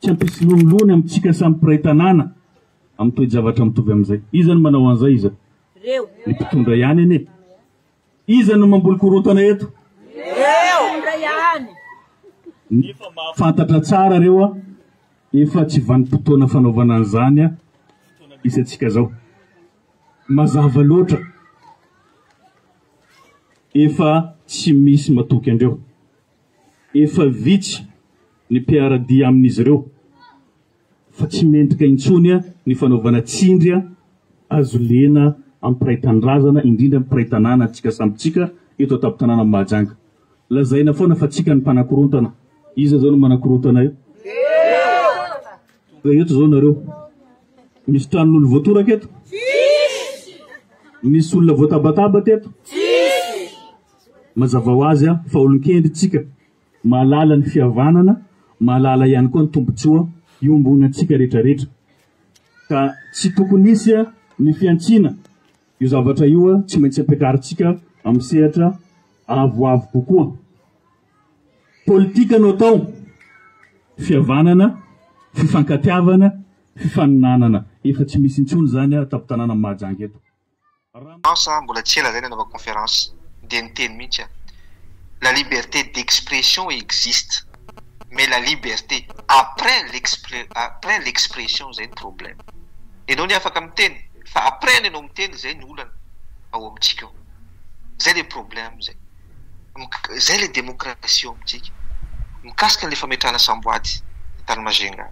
Tsy ampisolonilony amintsika samy mpiray tanàna amin'ny toe-javatra mitovy amin'izay. Iza no manao an'izay? Iza? Ireo. Ny mpitondra ihany anie. Iza no mamboly korontana eto? Ireo. Mpitondra ihany. Nefa mahafantatra tsara ireo aho, efa tsy vanim-potoana fanaovana an'izany aho, fotoana misy antsika izao. Mazava loatra. Efa tsy misy matoky andreo. Efa vitsy ny mpiara-dia amin'izy ireo fa tsy mendrika intsony ny fanaovana tsindry hazo lena amin'ny mpiray tanindrazana, indrindra ny mpiray tanàna antsika samy tsika eto an-tampon-tanànan'i Mahajanga. Lazaina foana fa tsika ny mpanakorontana. Iza izao no manakorontana eo? Ka eto izao nareo, misy tranon'olo voatoraka eto? Tsisy! Misy olona voatabataba teto? Tsisy! Mazava ho azy fa olon-kendry isika, mahalala ny fihavanana, mahalala ihany koa ny tombontsoa iombonantsika rehetrarehetra. Ka tsy tokony hisy ny fihantsiana, io zavatra io tsy maintsy ampiakarintsika amin'ny sehatra avoavo kokoa. Politika no atao, fihavanana, fifankatiavana, fifaninanana. Efa tsy misy intsony izany an, an-tampon-tanànan'i Mahajanga eto. Non sa mbola tsy ela zay nanaovako conférence dia niteny mihitsy aho la liberté d'expression existe mais la liberté après l'expre après l'expression zay no problème enao anie afaka miteny fa après ny anao miteny zay no olana ao amintsika ao zay le problème zay. izay ilay demokrasia ao amintsika. Mikasika ilay fametrahana samboady tany Majunga,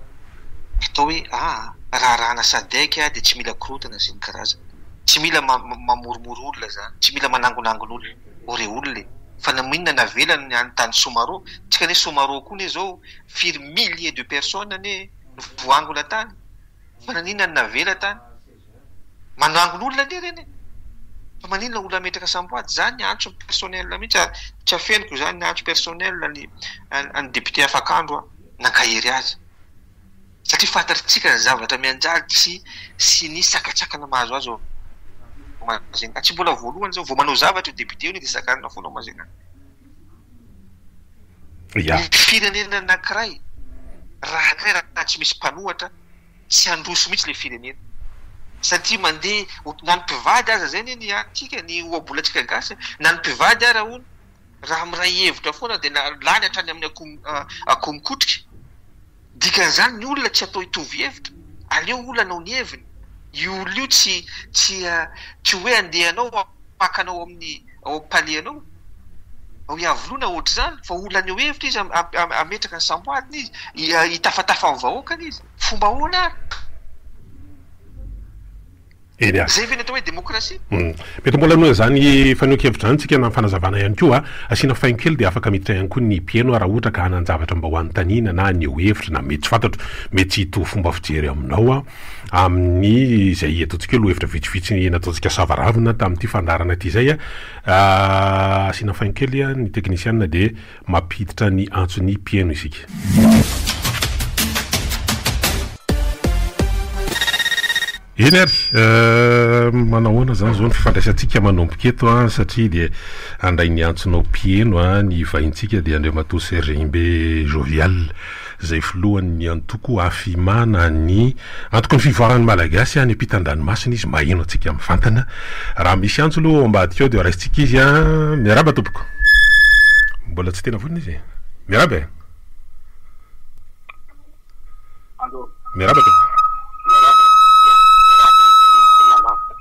atao hoe ah, raharahana sadec dia tsy mila korontana sy ny karazany. Tsy mila mamoromoro olona izany, tsy mila manangonangona olona. Ore olona e! Fa na inona navelany ny any tany Somaro, tsika anie Somaro koa anie izao firy milliers de personnes anie no voangona tany, fa naninona no navela tany? manangona olona anie ireny e! fa maninona olona hametraka samboady? Za ny antso ny personnel mihitsy ary tsy afeniko izany ny antso personnel ny an'ny député afakandro aho nankahery azy satria fantatritsika ny zavatra mianjady sy sy ny sakantsakana mahazo azy ao Majunga tsy mbola voalohany izao vao manao zavatra io député io ny dia sakanina foana ao Majunga ny firenena anankiray raha tsy misy mpanohatra tsy handroso mihitsy ilay firenena satria mandeha ho na ny mpivady aza zay anie ny antsika ny ohabolantsika gasy a! na ny mpivady ara hono raha miray hevitra foana dia na lany hatrany amin'ny akoho akoho mikotrika dikan'izany ny olona tsy atao hitovy hevitra aleo olona hanao ny heviny io olona io tsy tsy tsy hoe andeha anao pakana ao amin'ny ao panier anao, ao iavoloana ohatr'izany fa olona haneho hevitra izy hametraka ny samboadiny izy, hitafatafa amin'ny vahoakany izy, fomba ahoana ary? Eny a! Zay ve ny atao hoe demokrasia? Hum. Mety mbola hanao izany fanehoan-kevitra izany tsika na fanazavana ihany koa, asiana faingo kely dia afaka miditra ihany koa ny mpieno raha ohatra ka hanan-javatra mba ho anontaniana na haneho hevitra na mety tsy fantatro, mety tsy hitovy fomba fijery aminao aho. amin'ny izay ataontsika hoe lohahevitra vitsivitsy nataontsika sava ravina tamin'ity fandaharana ity izay, asiana faingo kely ny teknisiana dia mampiditra ny antson'ny mpihaino isika. Eny ary, manao ahoana izany izao ny fifandraisantsika manomboka eto an, satria dia handray ny antsonao mpihaino ny vahintsika dia Andriamatoa Sergimbe Jovial. izay filohan'ny antoko Afima na ny Antokon'ny Fivoaran'ny Malagasy any am-pitan-dranomasina izy, maheno antsika mivantana. Raha misy antso aloha ao ambadika ao dia raisintsika izy an! Miarahaba tompoko! Mbola tsy tena vonona izy e! Miarahaba e! Allô! Miarahaba tompoko! Miarahaba, miarahaba an'i Daniel, Daniel an!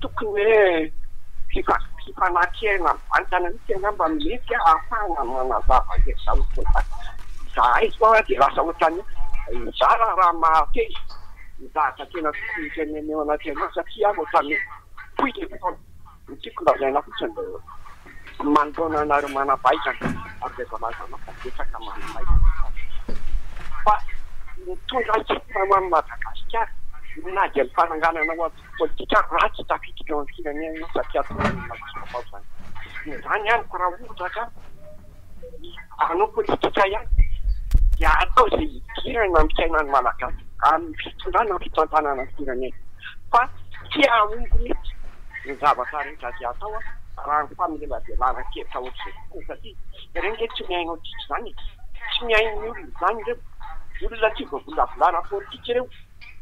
tokony hoe mpifanakaiky aina mivantana mihitsy angamba no mety ahafahana manazava izay izahay izao dia lasa ohatran'ny hoe mizara raha mahafehy ny zavatra tena tokony hotenenina eo anaty anao satria ohatran'ny hoe fohy ilay fotoana, ny tiako lazaina fotsiny dia izay. Manoloana anareo manampahaizana ary izay voalazanao fa betsaka manampahaizana tato fa mitondra antsipirany ho an'i Madagasikara na dia ny fananganana antoko politika ary ratsy tafiditra eo amin'ny firenena ianao satria atao any anaty birao izany. Izany amiko raha ohatra ka. hanao politika ihany dia hatao izay hidirana amin'ny fiainan'ny Malagasy amin'ny fitondrana ny fitantanana ny firenena fa tsy hahomby mihitsy ny zavatra rehetra izay hatao raha ny famelabelana an-kevitra ohatr'izay fotsiny satria ireny re tsy mihaino antsika izany e! tsy mihaino ny olona izany ireo olona tsy voavolavolana politika ireo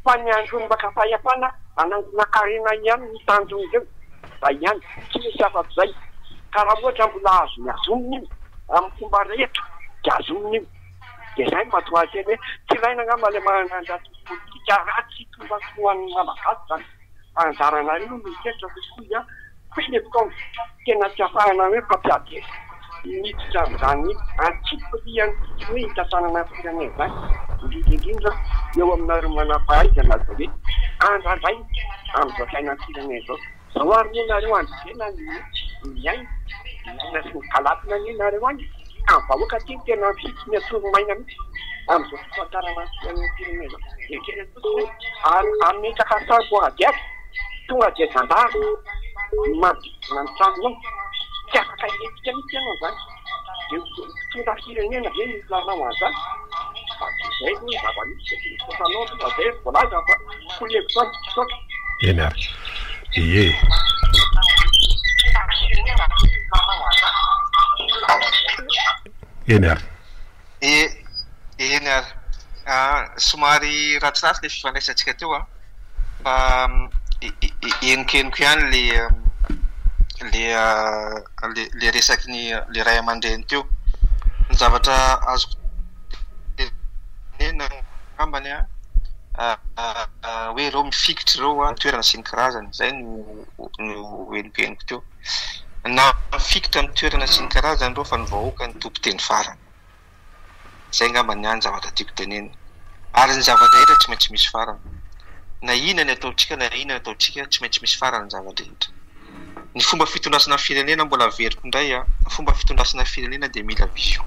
fa ny andron'ny mpaka-pahefana hanangona karena ihany ny tanjon'ireo. izay ihany, tsy misy afa-k'izay, ka raha ohatra mbola azony azoniny io, amin'ny fomba rehetra dia azoniny io, dia izay no mahatonga ahy hiteny hoe tsy ilaina angamba ilay manana an'ilay antoko politika raha tsy tonga tsy ho an'ny Malagasy izany, fa anjaranareo no miheritreritra kokoa izany, koa iny fotoana tena tsy ahafahana hoe mpampiady hevitra. Miditra amin'izany antsipirihan'ny hoe hitantanana firenena izany, indrindra indrindra eo aminareo manam-pahaizana izay hoe handrandray amin'izao fiainan'ny firenena izao. Izao ary moa nareo andrevena ny miaina, miaina sy mikalatina anie nareo any ka ny vahoaka aty tena mifidy ny atoro maina mihitsy amin'izao fitantanana fiainan'ny firenena izao. ary ametraka an-trano koragiaby, tonga dia zandary no manodidina ny trano eny, tsy afaka hilentika mihitsy ianao izany, dia mpitondra firenena ve no hilanao an'izany? fa tsy izay aloha ny zava-misy e, ny sasanao aloha izay ry voalaza fa koa ny hevitro aho, misaotra. Eny ary ee. Eny ary. Eny ary, somary ratsiratsy ilay fifandraisantsika teo an, fa henoko ihany ilay ilay resaky ny ilay ray aman-dreny teo. Ny zavatra azoko tenenina angambany an, hoe ireo mifikitra ireo an, ny toerana sy ny karazany, izay no henoko henoko teo. Nahafikitra ny toerana sy ny karazany ireo fa ny vahoaka no tompo teny farany. Izay angamba ny ahy ny zavatra tiako tenenina. Ary ny zava-drehetra tsy maintsy misy farany. Na inona ny ataontsika na inona ny ataontsika tsy maintsy misy farany ny zava-drehetra. Ny fomba fitondrasana firenena mbola averiko indray a, ny fomba fitondrasana firenena dia mila vision.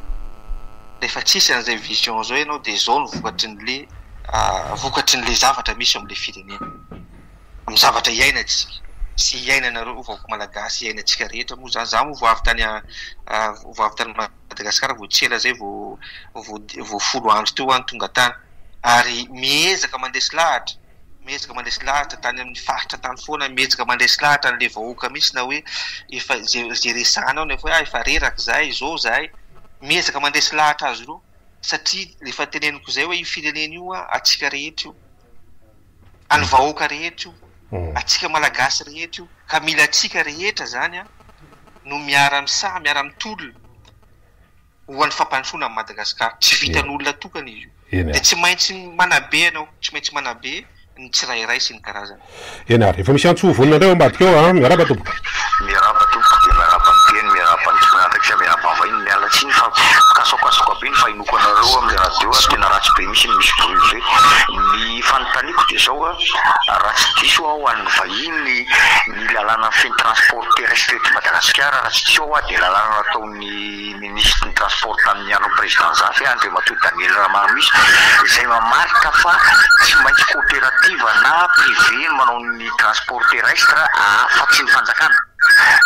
Rehefa tsisy an'izay vision izao ianao dia izao no vokatry ny le vokatry ny le zavatra misy eo amin'ilay firenena. amin'ny zavatra iainantsika sy iainanareo vahoaka malagasy, iainantsika rehetra moa izany. Izaho moa vao avy tany vao avy tany Madagasikara, vao tsy ela izay vao vao folo andro teo aho no tonga tany ary miezaka mandresy lahatra, miezaka mandresy lahatra tany amin'ny faritra tany foana, miezaka mandresy lahatra an'ilay vahoaka mihitsy na hoe efa izay izay resahina ao nefa hoe ah efa reraka izahay, izao izahay. Miezaka mandresy lahatra azy ireo satria efa teneniko izay hoe io firenena io antsika rehetra io. an'ny vahoaka rehetra io, antsika Malagasy rehetra io, ka mila antsika rehetra izany no miara-misaha, miara-mitolona ho an'ny fampandrosoana an'i Madagasikara. Tsy vitan'olona tokana izy io. Dia tsy maintsy manabe ianao, tsy maintsy manabe ny tsirairay sy ny karazany. Eny ary, efa misy antso vonona indray ao ambadika ao an! Miarahaba tompoko! Miarahaba tompoko dia miarahaba ny teny, miarahaba ny tompon'andraikitra, miarahaba vahiny, miala tsiny fa mikasokasoka be ny vahinoko anareo amin'ny radio ary tena ratsy be mihitsy ny misy bruit be. Ny fanontaniako dia izao an, raha tsy diso aho ho an'ny vahiny, ny lalàna feno transport terrestre eto Madagasikara raha tsy diso aho an dia lalàna nataon'ny. ny minisitry ny Transport tamin'ny andron'ny Président Nzafy, Andriamatoa Daniel Ramaromisy, izay mamaritra fa tsy maintsy coopérative na privé no manao ny transport terrestre afa tsy ny fanjakana.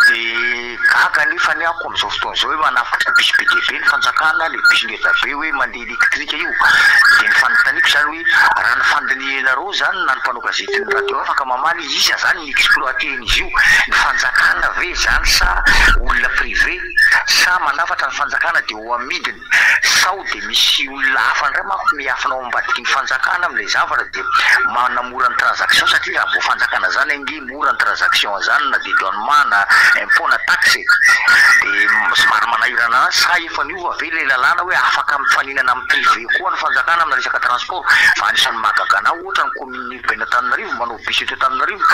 Dia gaga anefa ny ako amin'izao fotoana izao hoe manafatra bus be dia be ny fanjakana, ilay bus ngeda be hoe mandeha électrique io. Dia ny fanontaniako izany hoe raha ny fandinihanareo izany na ny mpanao gazety ny radio afaka mamaly izy, iza izany? exploiter-ny izy io, ny fanjakana ve izany sa olona privé, sa manafatra ny fanjakana dia ho amidiny, sao dia misy olona hafa indray manko miafina ao ambadiky ny fanjakana amin'ilay zavatra dia manamora ny transaction satria raha vao fanjakana izany ange mora ny transaction izany na dia douanement na impot na taxe e, dia somary manahirana anazy, sa efa niova ve ilay lalàna hoe afaka mifaninana amin'ny privé koa ny fanjakana amina resaka transport, fa anisan'ny mahagaga anah ohatra ny commune lehiben' Antananarivo manao bus eto Antananarivo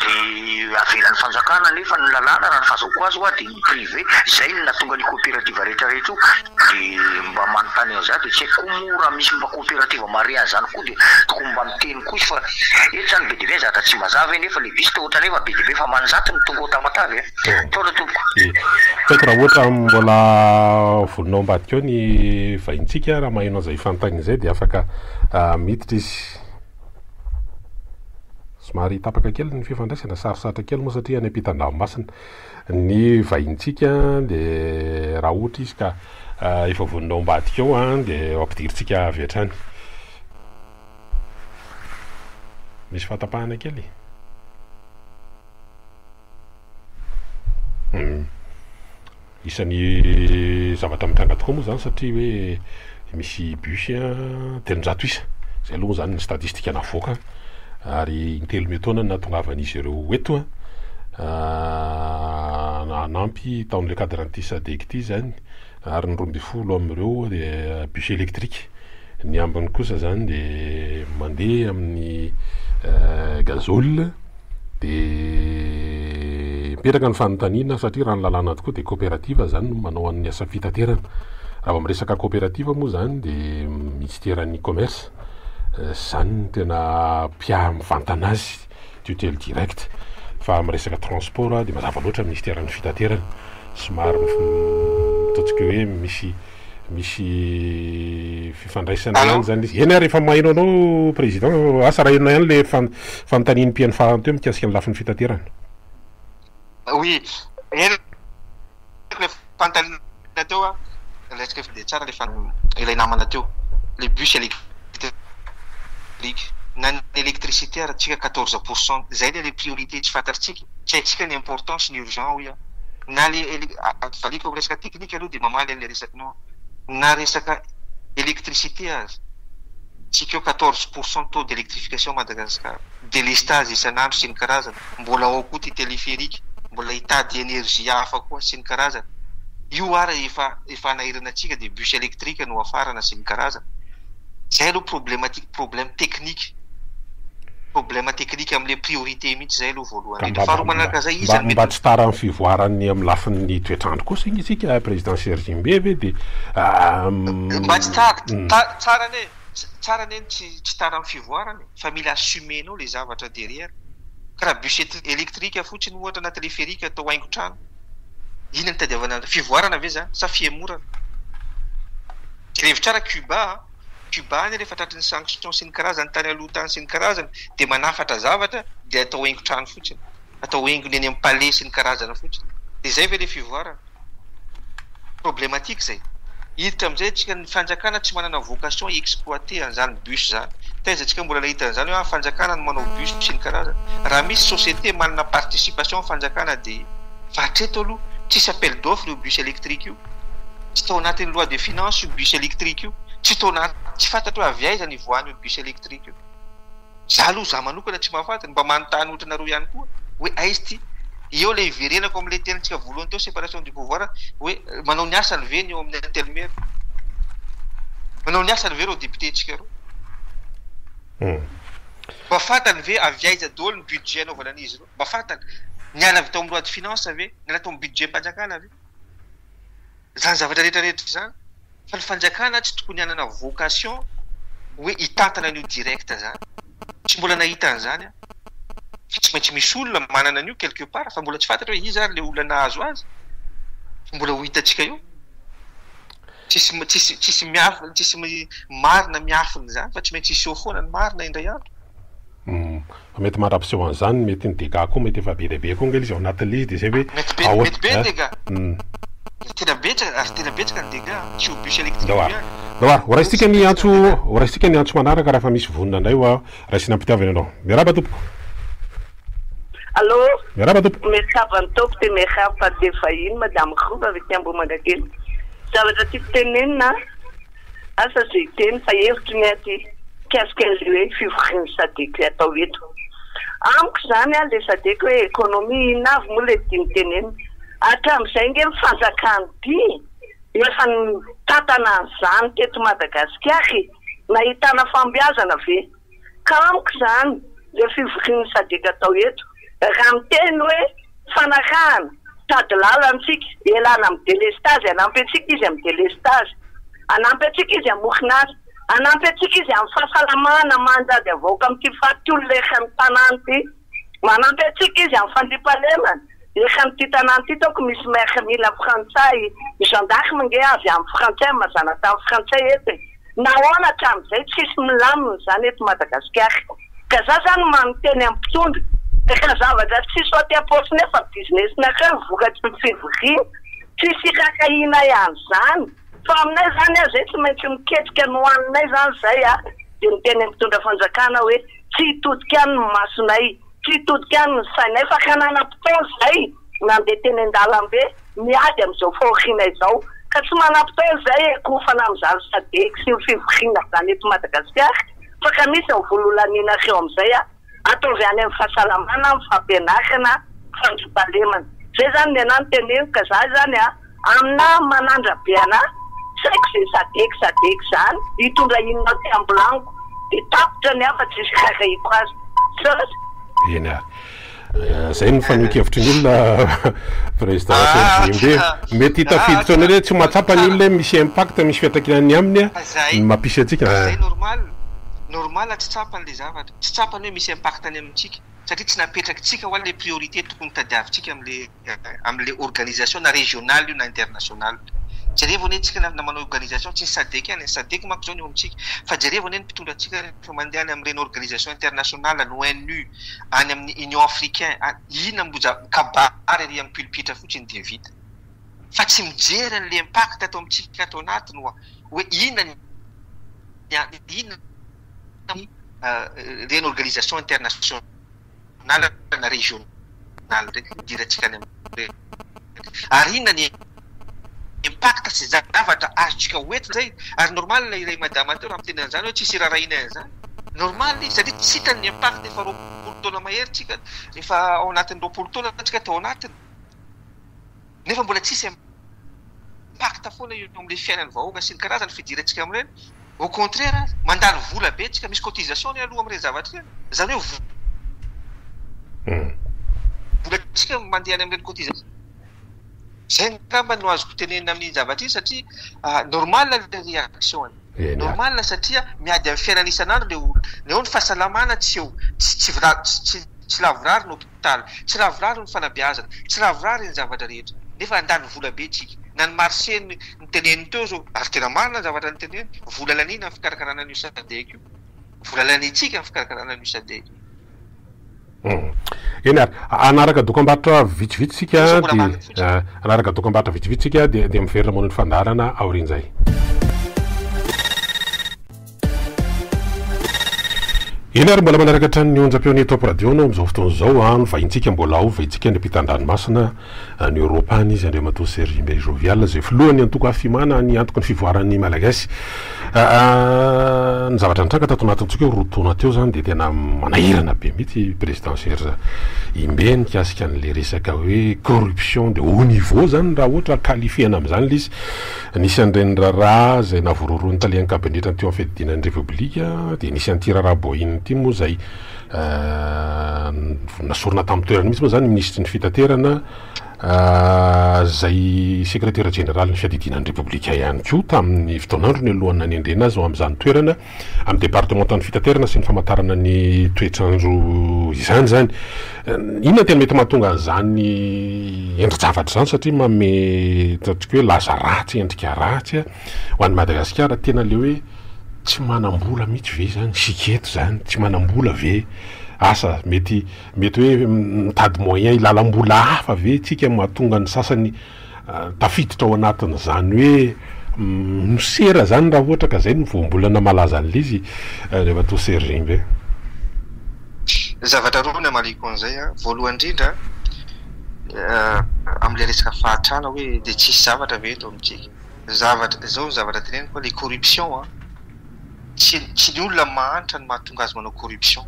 dia avelan'ny fanjakana nefa ny lalàna raha ny fahazaoko azy hoa dia ny privé izay no nahatonga an' io coopérative rehetra rehetra io dia mba manontany an'izaho dia tsy haiko koa moa raha misy mba coopérative mahare an'izany koa dia tokony mba miteny koa izy fa eto izany be dia be ny zavatra tsy mazava e nefa le bus toa ohatran'ny efa be dia be efa aman-jato no tonga ao Tamatave e Ataovy tompoko. Dia tsy haiko raha ohatra mbola vonona ao ambadika ao ny vahintsika raha maheno an'izay fanontaniana izay dia afaka miditra izy. Somary tapaka kely ny fifandraisana, sarosarotra kely moa satria any ampitan-dranomasina ny vahinintsika dia raha ohatra izy ka efa vonona ao ambadika ao dia ampidirintsika avy hatrany. Misy fahatapahana kely. Isan'ny zavatra mitranga tokoa moa izany satria hoe misy bus telonjato isa, izay aloha moa izany ny statistika navoaka ary intelo miataona no nahatongavan'izy ireo eto hanampy tao amin'ilay cadre an'ity SADEC ity izany. ary ny roa ambin'ny folo amin'ireo dia bus électrique, ny ambiny kosa izany dia mandeha amin'ny gazole, dia mipetraka ny fanontaniana satria raha ny lalàna tokoa dia coopérative izany no manao an'ny asa fitaterana, raha vao miresaka coopérative moa izany dia minisiteran'ny commerce, izany no tena mpiahy mivantana azy. tutelle directe fa amin'ny resaka transport dia mazava loatra ny minisiteran'ny fitaterana somary ataontsika hoe misy misy fifandraisana ah. ihany zany izy eny ary efa mahaino anao président asa raha enona ihany le fanontanian'ny mpihaino farany teo mikasika ny lafiny fitaterana Oui, eny le fanontaniana teo an, ilay tsy dia tsara rehefa ilay namana teo, le bus électrique, na ny électricité ary tsika quatorze pour cent, izay le le priorité tsy fantatritsika, tsy haintsika ny important sy ny urgent hoy aho, na le ele- a- a- valiako amin'ny resaka technique aloha dia mamaly an'ilay resakinao aho, na resaka électricité aza, tsika eo quatorze pour cent taux d'électrification Madagascar, délestage isan'andro sy ny karazany, Mbola ao koa ity téléphérique, mbola hitady énergie hafa koa sy ny karazany. Io ary efa efa hanahirana antsika dia bus électrique no hafarana sy ny karazany. Izay aloha problématique, problème technique, problème technique amin'ilay priorité mihitsy izay aloha voalohany indrindra. Faharoa manaraka an'izay, iza no mety. Mba tsy tara amin'ny fivoaran'ny amin'ny lafin'ny toetr'andro kosa anie isika président Serge Mbe ve dia. Mba tsy tara, tsara anie. Tsara anie ny tsy tsy tara amin'ny fivoarana e, fa mila assumer-nao ilay zavatra derrière. Ka raha bus électrique fotsiny ohatra na téléphérique atao haingon-trano, inona no tadiavana an'izany? Fivoarana ve izany sa fihemorana? Jerevy tsara Cuba an! Cuba anie rehefa tratry ny sanction sy ny karazany tany aloha tany sy ny karazany dia manafatra zavatra dia atao haingon-trano fotsiny, atao haingony eny amin'ny palais sy ny karazany fotsiny. Dia izay ve ilay fivoarana? Problematique zay. Hiditra amizay atsika ny fanjakana tsy manana vocation hi exploiter anzany bus zany. Taiza atsika mbola nahita anzany hoe ah fanjakana no manao bus sy ny karazany. Raha misy société manana participation ny fanjakana dia fa hatreto aloha tsisy appel d'offre io bus electrique io. Tsy tao anatin'ny loi de finance io bus electrique io. Tsy tao anaty, tsy fantatro hoe avy aiza ny ivoahan'io bus electrique io. Za aloha za manokana tsy mahafaty, ny mba manontany ohatranareo ihany koa hoe aiz ty? Eo le hiverenako amle tenintsika voalohany teo separation du pouvoir hoe manao ny asany ve ny eo amin'ny intelmere? Manao ny asany ve reo député ntsika reo? Mba fantany ve avy aiza daholo ny budget anaovana an'izy ireo? Mba fantany? Niala avy tao amin'ny loi de finance ve? Niala tao amin'ny budget-mpanjakana ve? Zany zavatra rehetra rehetra zany? fa ny fanjakana tsy tokony hanana vocation hoe hitantana an'io direct zany, tsy mbola nahita an'izany aho, fa tsy maintsy misy olona manana an'io quelque part fa mbola tsy fantatra hoe iza ary ilay olona nahazo azy fa mbola ho hitantsika eo, tsisy tsisy tsisy miafina tsisy marina miafina izany fa tsy maintsy hiseho foana ny marina indray andro. Humm Fa mety mandra-piseho an'izany mety ny dégâts koa mety efa be dia be koa ange ilay izy ao anatin'ilay izy dia izay hoe Mety be dia mety be ny dégâts. Tena betsaka ary tena betsaka ny dégâts. Tsy ho bus électrique io ihany. Ndao ary. Ho raisintsika ny antso ho raisintsika ny antso manaraka raha efa misy vonona indray hoa raisina am-pitiavana ianao. Miarahaba tompoko. Allô. Miarahaba tompoko. Miarahaba ny Tompo dia miarahaba ny mpivahiny Madame Rova avy aty Ambohimangakely. Zavatra tiako tenenina Asa ze hiteny fa hevitry ny aty mikasika anle hoe fivorian'ny sadc atao eto. Amiko izany an le sadc hoe economie inona avy moa le tiany tenenina. Hatramizay nge ny fanjakana ty efa nitantana an'izany teto Madagasikara e. Nahitana fambeazana ve? ka amiko izany le fivorian'ny sadc atao eto raha miteny hoe fanarahana sady lalantsika ialana amin'ny delestazy hanampy antsika izy amin'ny delestazy hanampy antsika izy amin'ny orinasa hanampy antsika izy amin'ny fahasalamana mandady havaoka amin'ity faty olona eran'ny tanàna ity Manampy antsika izy amin'ny fandriampahalemana. Efa amin'ity tanàna ity taoko misy maire mila frantsay, ny gendarme ange avy any frantsay amin'ny maha zanatany frantsay eto e! Nahoana hatramin'izay tsisy milamina izany eto Madagasikara? Ka za zany manoteny amin'ny mpitondra, ka zavatra tsy hisy aty am-paosy nefa business nareo no vokatry ny fivoriana, tsy hisy hirakahianay an'izany fa aminay izany ah zay tsy maintsy miketrika ny hoaninay izany zay ah, dia miteny amin'ny mpitondra fanjakana hoe. tsy hitodika any ny masonay, tsy hitodika any ny sainay fa ka nanam-potoana izay nandeha teny an-dalambe miady amin'izao fahoriana izao ka tsy manam-potoana izay hiankofana amin'izany sadec sy ny fivoriana izany eto Madagasikara fa ka misy ny vola holanianareo amin'izay a! ataovy any amin'ny fahasalamana, amin'ny fampianarana, fandriampahalemana. Izay izany ny anah no teneniko ka za izany a! Amina manandra be ana tsy haiko ze sadec sadec zany hitondra inona aty ambolaniko de tapitra ny hafa tsisy hikakahiko azy sos. Eny ary. Eh, zay ny fanehoan-kevitry ny olona président Serge ah, Mety hitafiditra anao hoe tsy mahatsapa ny olona misy impact misy fiantraikany ny aminy ah, ny mampisy antsika. Zay ah. normal. Normal tsy tsapany le zavatra. Tsy tsapany hoe misy impact any amintsika satria tsy napetrakitsika ho le priorité tokony tadiavintsika amle amle organisation na regional io na international jereo anie tsika na manao organisation tsy ny sadec ihany, ny sadec manko zao ny eo amintsika fa jereo anie ny mpitondra antsika rehefa mandeha any amin'ireny organisation international any ONU any amin'ny union africain any inona mo za mikabary ery amin'ny pulpitre fotsiny dia vita fa tsy mijery anle impact ato amintsika ato anatiny oa oe inona ny inona ny ireny organisation international anarana régional reny idirantsika any amin'ireny reny ary inona ny impact sy zavatra azontsika ho entina izay ary normal ilay madama teo raha miteny an'izany hoe tsisy irarahinay an'izany normal izy satria tsy hitany ny impact efa roapolo taona mahery tsika efa ao anatin'ny roapolo taona tsika tao anatiny nefa mbola tsisy impact foana eo amin'ny fiainan'ny vahoaka sy ny karazana fidirantsika amin'ireny, au contraire mandany vola be tsika, misy cotisation anie aloha amin'ireny zavatra ireny, izany hoe vola volantsika no mandeha any amin'ireny cotisation, izay angamba no azoko tenenina amin'iny zavatra iny satria normal ilay reaction-ny, normal satria miady amin'ny fiainana isan'andro ilay olona, ny eo ny fahasalamana tsy eo, tsy lavorary no. hopitaly, tsy lavorary ny fanabeazana, tsy lavorary ny zavatra rehetra, nefa handany vola be tsika. Na ny marché ny niteneniny teo zao, ary tena marina ny zavatra niteneniny, vola laniana ny fikarakarana an'io sadec io, vola laniantsika ny fikarakarana an'io sadec io. Eny ary, hanaraka dokambarotra vitsivitsy tsika dia, hanaraka dokambarotra vitsivitsy tsika dia, dia miverina moana ny fandaharana aorian'izay. Eny ary mbola manaraka hatrany ny onjam-peo ny Top Radio no amin'izao fotoana izao a, novahintsika mbola ho vahintsika ny ampitan-dranomasina any Eoropa any izy Andriamatoa Serge Imbay Jovial izay filohan'ny antoko Afimana ny antoko ny fivoaran'ny Malagasy ny zavatra nitranga tato anatintsika roa taona teo izany dia tena manahirana be mihitsy Président Serge Imbay mikasika an'ilay resaka hoe corruption de haut niveau izany raha ohatra qualifiena amin'izany ilay izy Nisy an'ireny raharaha izay navororoan'ny talian-kabinetra teo amin'ny fiadidiana ny Repoblika dia nisy an'ity raharaha Boeing ity moa izay nasorina tamin'ny toerany mihitsy moa izany ny Minisitry ny Fitaterana izay Sekretera Jeneralin'ny Fiadidiana ny Repoblika ihany koa tamin'ny fotoan'androny alohan'ny nanendrena azy ho amin'izany toerana Amin'ny departemantan'ny fitaterana sy ny famantarana ny toetr'andro izany izany. Inona tena mety mahatonga an'izany endri-javatra izany satria manome ataontsika hoe laza ratsy, endrika ratsy ho an'i Madagasikara. Tena ilay hoe tsy manam-bola mihitsy ve izany isika eto izany? Tsy manam-bola ve? Asa mety mety hoe mitady moyen hilalam-bola hafa ve isika mahatonga ny sasany Tafiditra ao anatin'izany hoe mosera izany raha ohatra ka izay no voambolana malaza an'il'izy Andriamatoa Sergimbe. Zavatra roa no hamaliako an'izay. Voalohany indrindra, amin'ilay resaka fahantrana hoe dia tsisy zavatra ve eto amintsika. Izao ny zavatra teneniko, ilay corruption. tsy tsy ny olona mahantra no mahatonga azy manao corruption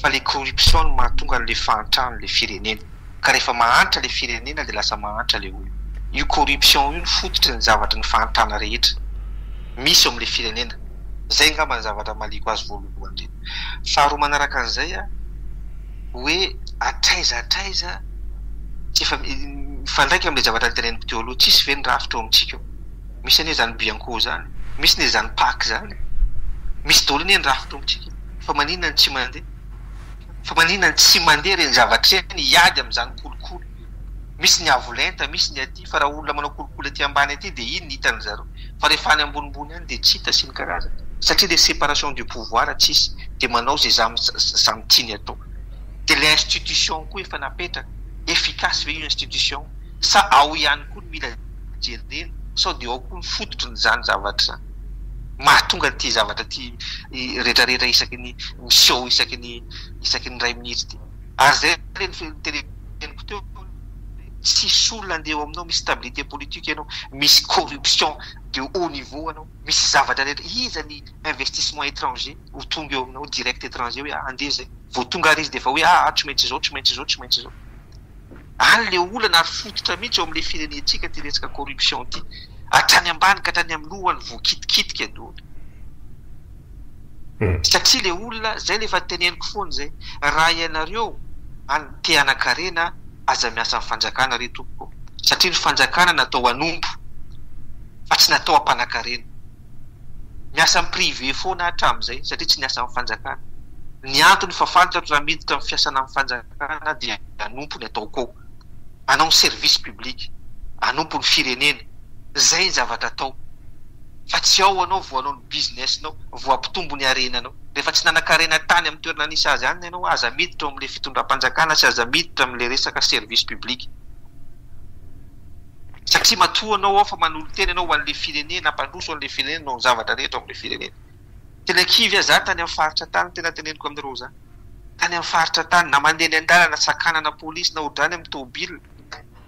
fa le corruption no mahatonga anle fahantrany le firenena ka rehefa mahantra le firenena de lasa mahantra le olona io corruption io no fototry ny zavatra ny fahantrana rehetra misy eo amle firenena zay ngamba ny zavatra maliko azy voalohany le faharoa manaraka anzay a hoe hatraiza hatraiza tsy efa mifandraika amle zavatra niteneniko teo aloha tsisy ve ny rafitra eo amitsika eo. Misy anie zany bianco zany, misy ne zany pac zany, misy daholo anie ny rafi-tombontsika fa maninona no tsy mandeha? Fa maninona no tsy mandeha ireny zavatra ireny hiady amin'izany kolikoly? Misy ny avo lenta, misy ny aty fa raha olona manao kolikoly aty ambany aty dia iny no hitan'ny zareo fa rehefa any ambonimbony any dia tsy hita sy ny karazany satria ilay separation de pouvoir tsy hisy dia manao izay zamy tiany atao. Dia ilay institution koa efa napetraka, efficace ve io institution? sa ao ihany koa no mila jerena sao dia ao koa ny fototry ny izany zavatra izany mahatonga ity zavatra ity retraretra isaky ny miseho isaky ny isaky ny iray minitra ity ary izay ilay noteneniko teo hoe tsisy olona andeha eo aminao misy stabilité politique ianao misy corruption de haut niveau anao misy zavatra rehetra iza ny investissement étranger ho tonga eo aminao direct étranger hoe andeha izay vao tonga ary izy dia efa hoe aah tsy maintsy izao tsy maintsy izao tsy maintsy izao Any le olana ary fototra mihitsy eo amin'le firenentsika ity resaka corruption ity. Hatrany ambany ka hatrany amin'ny loha no voakitikitika indrony. Satria le olona, zay le efa teneniko foana zay, raha ianareo any te hanakarena aza miasa amin'ny fanjakana re tompoko satria ny fanjakana natao hanompo fa tsy natao hampanakarena. Miasa amin'ny privé foana aho hatramin'izay satria tsy niasa amin'ny fanjakana. Ny antony fa fantatro raha miditra amin'ny fiasana amin'ny fanjakana aho dia hanompo ny ataoko ao. Hanao ny service public. Hanompo ny firenena. Izay ny zavatra atao. Fa tsy ao ianao vao hanao ny business-nao, vao hampitombo ny harenanao. Rehefa tsy nanan-karena tany amin'ny toerana nisy azy any ianao, aza miditra ao amin'ilay fitondram-panjakana sy aza miditra amin'ilay resaka service public. satria matoa anao ao fa manolo-tena ianao ho an'ilay firenena, hampandroso an'ilay firenena noho ny zavatra rehetra ao amin'ilay firenena. Tena kivy aho za tany amin'ny faritra tany, tena teneniko aminareo za, tany amin'ny faritra tany, na mandeha eny an-dalana sakanana polisy na hodrany amin'ny tomobilina,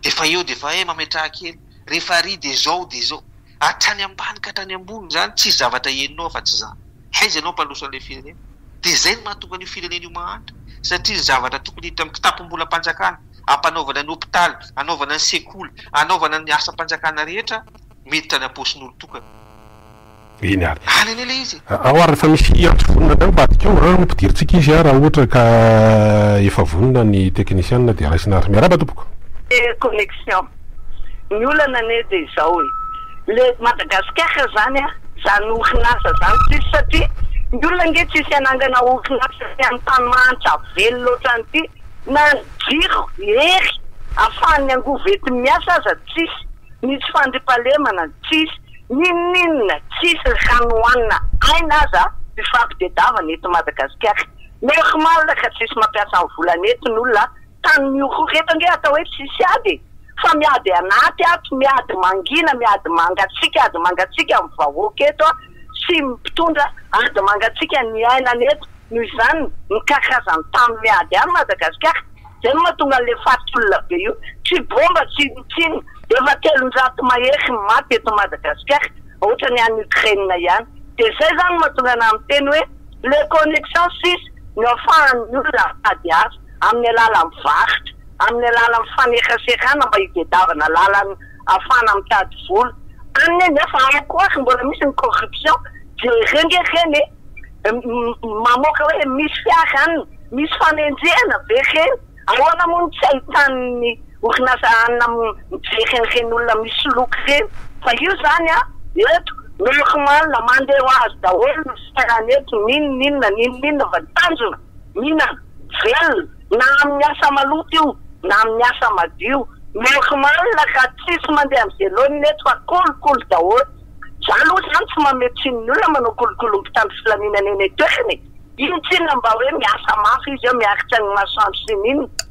dia efa eo dia efa eh mametraha kely, rehefa ary dia izao dia izao. Hatrany ambany ka hatrany ambony izany, tsisy zavatra henonao afa tsy izany. Aiza ianao mpandroso an'ilay firenena? Dia izay no mahatonga an'io firenena io mahantra, satria ny zavatra tokony hiditra amin'ny kitapom-bolam-panjakana, hampanaovana ny hopitaly, hanaovana ny sekoly, hanaovana ny asam-panjakana rehetra, miditra any am-paosin'olon-tokana. Eny ary. Any anie ilay izy e! Ao ary efa misy antso vonona avy any ambadika ao, ampidirintsika izy raha ohatra ka efa vonona ny teknisiana dia raisina ary. Miarahaba tompoko. Connexion. Ny olana anie dia izao e, le Madagasikara zany an, zany orinasa zany tsisy satria ny olona ange tsisy hanangana orinasa aty amin'ny tany mahantra velona otrany ity na ny jiro hery afahan'ny angovo entiny miasa aza tsisy, misy fandriampahalemana tsisy, n'inon'inona tsisy, ny rano hohanina aina aza mifampitedavana eto Madagasikara, normal ka tsisy mampiasa ny volany eto ny olona Tany mihohoreto ange atao hoe tsisy ady e! Fa miady anaty ato, miady mangina, miady mangatsiaka, ady mangatsiaka amin'ny vahoaka eto a! Sy ny mpitondra, ady mangatsiaka ny iainana eto, noho izany ny karazany tany miady any Madagasikara, izay no mahatonga an'ilay faty olona be io, tsy bomba tsy inona tsy inona, efa telonjato mahery ny maty eto Madagasikara, ohatran'ny any Ukraine ihany, dia izay izany no mahatonga anah miteny hoe les connexions sisa no afahan'ny olona mitady asa. amin'ny alalan'ny varotra, amin'ny alalan'ny fanekasekana mba hitedavana lalana afahana mitady vola any e, nefa ao koa ary mbola misy ny corruption, jereo nge reny e, mamoaka hoe misy fiara any, misy fanenjehana ve reny, ahoana moa no tsy ahitan'ny orinasa any mijery an'ireny olona misoloky ireny, fa io izany an, eto normal mandeha ho azy daholo ny fiarana eto, n'inon'inona n'inon'inona fa tanjona Nina, Velona, na amin'ny asa maloto io na amin'ny asa madio, normaly ka tsisy mandeha amin'ny velonina eto fa kolikoly daholo. Za aloha zany tsy mamehy tsiny ny olona manao kolikoly ny mpitandro filaminana eny an-toerana e! Ino tsinona mba hoe miasa mafy izy eo miakitra ny masoandro sy ny inona?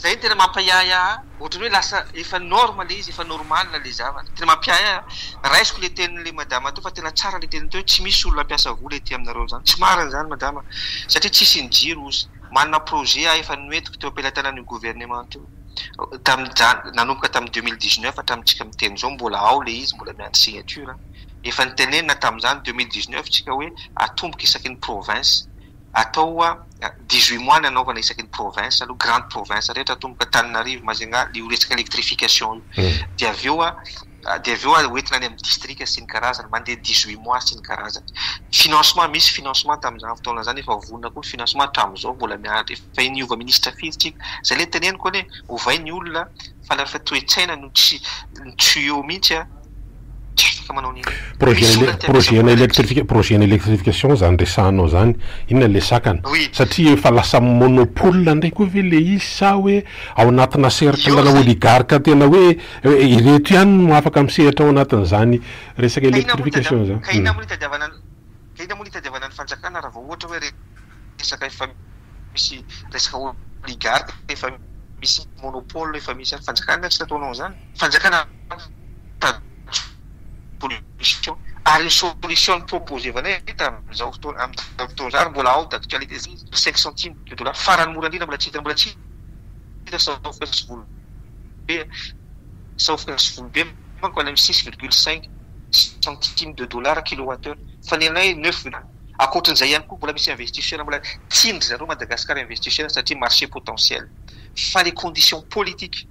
Zay no tena mampahiahy ahy, ohatran'ny hoe lasa efa norme le izy, efa normal le zavatra. Tena mapiahy ahy, raisiko le tenin'le madama teo fa tena tsara le teniny teo hoe tsy misy olona mpiasa vola ety aminareo izany, tsy marina izany madama satria tsy hisy ny jiro ozy, manana projet aho efa noentiko teo am-pelatanan'io gouvernement io tamin'izany, nanomboka tamin'ny deux mille dix neuf hatramintsika miteny izao mbola ao le izy mbola miandry signature, efa nitenenina tamin'izany deux mille dix neuf tsika hoe atomboka isaky ny province. atao dix huit mois ny anaovana isaky ny province aloha grande province rehetra atomboka Antananarivo Majunga io resaka electrification io dia avy eo dia avy eo ho entina any amin'ny district sy ny karazany mandeha dix huit mois sy ny karazany financement misy financement tamin'izany fotoana izany efa vonona koa ny financement hatramin'izao mbola miandry efa niova ministra firy tsika izay ilay teneniko anie ovay ny olona fa lafiny toe-tsaina no tsy tsy eo mihitsy an! Tsy afaka manao an'ireny. Projet Misy olona te projet hampiasa ana bola kely. électrification projet ana électrification zany resahanao zany inona le sakana? Oui. Satria efa lasa monopole ndray koa ve le izy sa hoe ao anatina cercle Io na zay. oligarque tena hoe hoe ireto ihany no afaka misehatra ao anatin'izany resaka Ka inona moa no électrification tadiavana, zany? ka inona Hum. moa no itadiavana ny, ka inona moa no itadiavana ny fanjakana raha vao ohatra hoe re. resaka efa misy resaka oligarque efa misy monopole efa misy any fanjakana nga tsy nataonao an'zany fanjakana solution ary ny solution proposevanay tamin'izao fotoana amin'izao fotoana izao ary mbola ao d'actualité izay izy cinq centimes de dollars farany mora indrindra mbola tsy hita mbola tsy hita saofoka sy volo be saofoka sy volo be manko any amin'ny six virgule cinq centimes de dollars kilowatt heure fa ny anay neuf Ankoatran'izay ihany koa mbola misy investisseurs mbola tian dry zareo Madagascar investisseurs satria marché potentiel fa les conditions politiques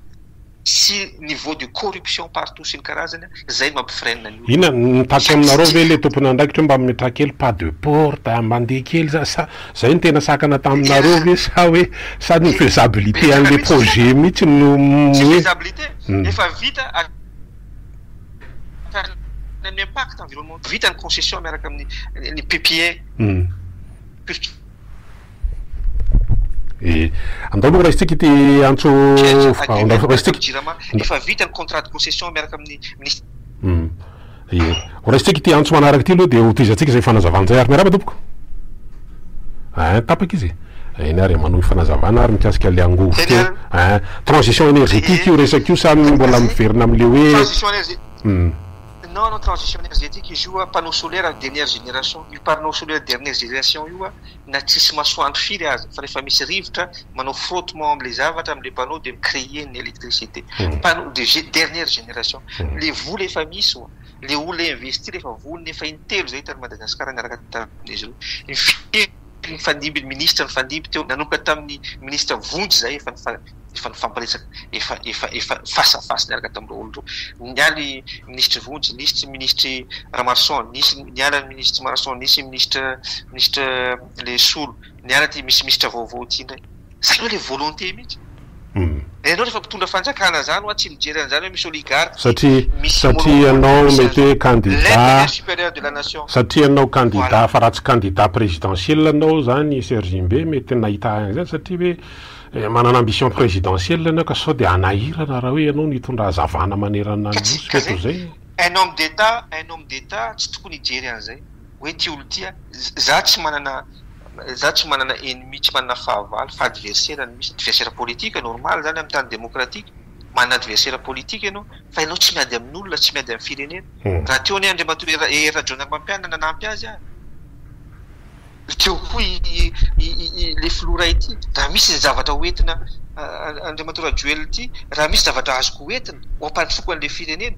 sy niveau de corruption partout sy ny karazany zay no mampi freine ny olona. Inona no tatsy aminareo ve le tompon'andraikitra io mba ametraha kely pas de porte a, mandeha kely za sa zay no tena sakana taminareo ve sa hoe sa ny faisabilité an'le projet mihitsy no hoe. Tsy faisabilité efa vita. ny impact environnemental vita ny concession miaraka amin'ny ny PPA. Hmm. Eh, andao aloha raisintsika ity antso andao raisintsika. Efa vita ny contrat de concession miaraka amin'ny ministre. Hmm. Eh. Ho raisintsika ity antso manaraka ity aloha dia ho tohizantsika izay fanazavana izay ary miarahaba tompoko. Ein, tapaka izy. Eny ary e, manohy fanazavana ary mikasika ilay angovo teo. Ein, transition energetique io resaka io sa mbola miverina amin'ilay hoe. Transition energetique. Hum. Non non, transition energetique izy io, panneau solaire ny dernière génération. Io panneau solaire dernière génération io na tsisy masoandro firy aza fa rehefa misy rivotra, manao frottement amin'ilay zavatra, amin'ilay panneau dia mi-creer ny électricité. Panneau de dernière génération. Ilay vola efa misy. le olona investir rehefa vonona efa intelo zay tany Madagascar niaraka tamin'izy ireo nifidy nifandimby ny ministra nifandimby teo nanomboka tamin'ny ministra vonjy zay efa efa nifampiresaka efa efa efa face à face niaraka tamin'ireo olona ireo nialy ministry vonjy nisy tsy ministry Ramaroson nisy niala ny ministry Ramaroson nisy ministra ministra le solo niala ty misy ministra vaovao ty ndray Zany hoe le volonté mihitsy. Fa ianao rehefa mpitondra fanjakana zany hoa tsy mijery an'zany hoe misy oligarque satria satria ianao mety hoe candidat satria ianao candidat fa raha tsy candidat présidentiel ianao zany Serge mbe mety nahita an'zany satria hoe manana ambition présidentiel ianao ka sao de hanahirana raha hoe ianao no hitondra hazavana manerana ny nosy mety ho zay. Un homme d'Etat un homme d'Etat tsy tokony hijery an'zay. hoe ty olo ty a, za tsy manana za tsy manana ennemi tsy manana fahavalo fa adversaire no misy, adversaire politique normal zany am tany demokratika, manana adversaire politique enao fa enao tsy miady amin'olona tsy miady am firenena, raha teo anie Andriamatoa Hery Rajaonarimampianina nanampy azy ary teo koa i i le filoha iray ty, raha misy ny zavatra ho entina Andriamatoa Rajoelina ty, raha misy zavatra azoko ho entina ho ampandrosoako anle firenena,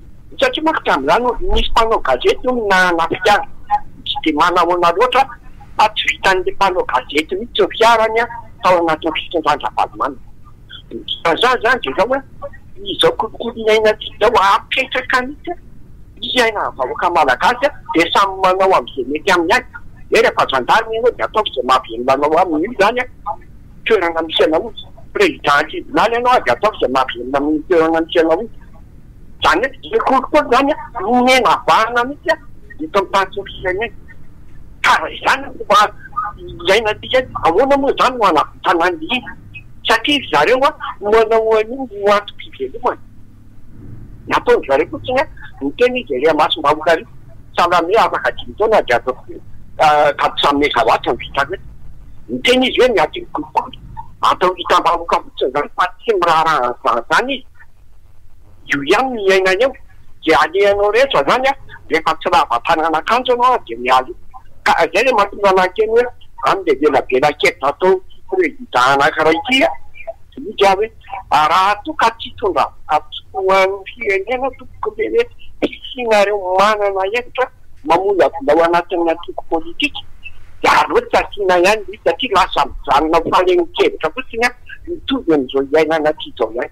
Satria manko tamin'izany hono nisy mpanao gazety hono nanafika ahy, tsy dia manahoana loatra fa tsy vitan'ilay mpanao gazety mihitsy ny fiarany tao anatin'ny fitondran-dRavalomanana. Ny dikan'izany izany dia izao hoe izao kolikoly iainantsika izao hapetraka mihitsy fiainan'ny vahoaka malagasy dia samy manao amin'izay mety aminy avy. Hoe rehefa zandary ianao dia ataovy izay mahavelona anao aminy io izany toerana misy anao io. Président tribunaly ianao dia ataovy izay mahavelona amin'io toerana misy anao io. Izany hoe tsy sekoly koa izany an, omena vahana mihitsy an, eto amin'ny tany tsy misy firenena. Ka raha izany no fomba hiainantsika eto, ahoana moa izany no hanavotana ny hina? Satria ry zareo an, manao an'io ho antom-pivelomana. Ny ataon-dry zareo fotsiny an, miteny izy ery imasom-bahoaka ery, Salame afaka dimy taona dia ataoko hoe Kabisa Megawatt no vitako eto. Miteny izy hoe miady amin'ny kolikoly. Atao hitam-bahoaka fotsiny izany fa tsy miraharaha an'izany izany izy. io ihany no iainany eo dia alehanao rehetra izany an, rehefa tsy lava-tanana kanjo ianao an dia miala eo, ka izay ilay mahatonga anah hiteny hoe any ilay velabelankevitra ataon'ity prezida anankiray ity an, diniho aho hoe raha toa ka tsy hitondra voka-tsoa ho an'ny firenena tompoko ve hoe hisianareo manana hevitra mamolavola ao anatin'ny antoko politika dia aleo tsy asiana ihany satria lasa mijanona ho fanehoan-kevitra fotsiny an, mitovy amin'izao iainana aty izao ihany.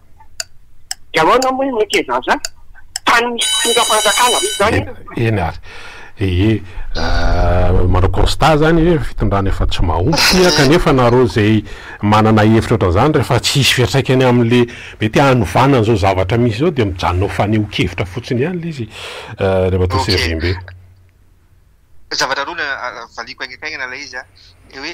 Dia ahoana moa io mety izany zany? Tany misy mpitondra fanjakana ve izany io? Eny ary ee, manao constat zany hoe fitondrana efa tsy mahomby kanefa nareo izay manana hevitra ohatran'izany rehefa tsy hisy fiatraikany amin'le mety hanovana an'izao zavatra misy izao dia mijanona ho fanehoan-kevitra fotsiny ihany ilay izy ry Ramatoa Servimbe. Zavatra roa no valiako haingaikaingana ilay izy, ilay hoe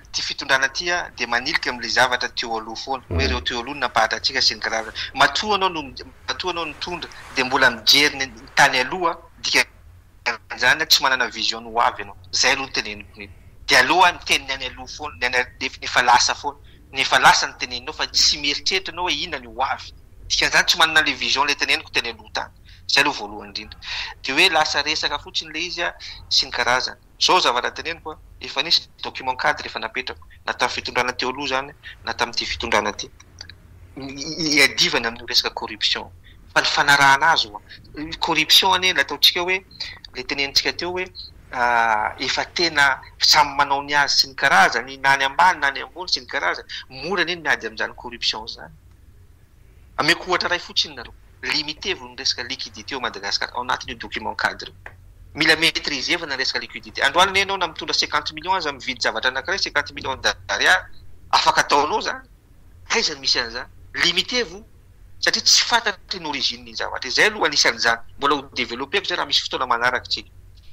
ity fitondrana ity dia manilika amin'ilay zavatra teo aloha foana, hoe ireo teo aloha no nampahatra antsika sy ny karazany. Matoa ianao no, matoa ianao no mitondra dia mbola mijery ny tany aloha, dikan'izany tsy manana vision ny ho avy ianao. Izay aloha no teneniko mety. Dia aleo miteny ny any aloha foana, ny any efa lasa foana, ny efa lasa no teneninao fa tsy mieritreritra ianao hoe inona ny ho avy. Dikan'izany tsy manana ilay vision ilay teneniko teny aloha tany. Izay aloha voalohany indrindra. Dia hoe lasa resaka fotsiny ilay izy sy ny karazany. Izao ny zavatra teneniko, efa nisy ny document cadre efa napetrako, na tamin'ny fitondrana teo aloha izany na tamin'ity fitondrana ity. Iadivany amin'io resaka corruption. Fa ny fanarahana azy ho'a. Ny corruption anie ilay ataontsika hoe, ilay tenenintsika teo hoe efa tena samy manao ny azy sy ny karazany, na any ambany na any ambony sy ny karazany. Mora anie ny miady amin'izany corruption izany. Ameko ohatra iray fotsiny nareo, limitez-vous ny resaka liquidité ao Madagascar ao anatin'io document cadre io. Mila maitrisevana ny resaka liquidité. Androany anie ianao na mitondra cinquante millions aza mividy zavatra anankiray cinquante millions d'ariary, afaka ataonao izany, aiza no misy an'izany? Limitez-vous satria tsy fantatra iny origine iny zavatra iny. Izay aloha anisan'izany, mbola ho developper-ko izay raha misy fotoana manaraka isika.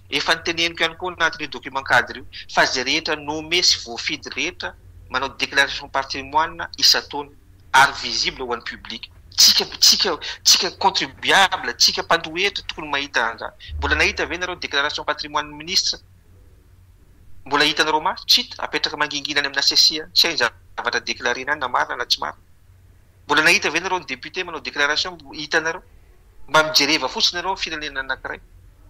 Efa noteneniko ihany koa ao anatin'io document cadre io fa izay rehetra nomme sy voafidy rehetra manao déclaration patrimoine isan-taona. ary visible ho an'ny public. Tsika, tsika, tsika contribuable, tsika mpandoa hetra tokony mahita an'izany. Mbola nahita ve nareo déclaration patrimoine-n'ny ministra? Mbola hitanareo maso? Tsy hita, apetraka mangingina any amin'ny HCC any, tsy hay ny zavatra déclarer-ny any na marina na tsy marina. Mbola nahita ve nareo ny député manao déclaration? Hitanareo? Mba mijereva fotsiny nareo ny firenena anankiray.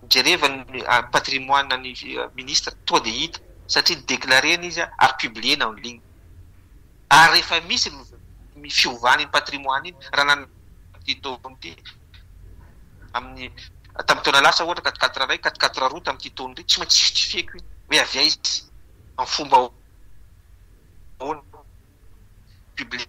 Mijereva ny patrimoine-n'ny ministra, tonga dia hita, satria déclarer-ny izy ary publier-na en ligne. Ary rehefa misy ny fiovana iny patrimoine iny raha nanana ity taona ity amin'ny tamin'ny taona lasa ohatra quatre quatre iray quatre quatre roa tamin'ity taona ity tsy maintsy justifier-ko iny hoe avy aiza? amin'ny fomba ahoana? public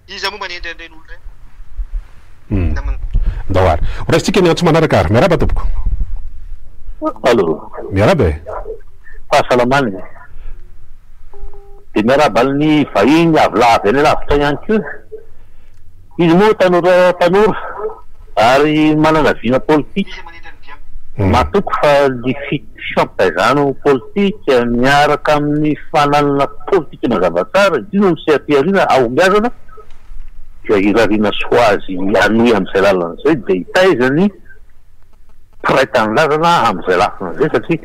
Iza moa manendry an'ireny olona ireny? Namana. Ndao ary. Ho raisintsika ny antso manaraka ary. Miarahaba tompoko. Allô. Miarahaba e. Fahasalamana e. Dia miarahaba ny vahiny avy la avy any alavitra ihany koa. Izy moa tanora tanora ary manana vina politika. Iza manendry an'i Biam? Matoky fa ny fi- fifampitaizana politika miaraka amin'ny fananana politika. Ity mazava tsara, ity no miseha-pihariana hahombiazana, dia hirariana sy ho azy hanohy amin'izay lalana izay, dia hitaiza ny mpiray tanindrazana amin'izay lafiny izay, satria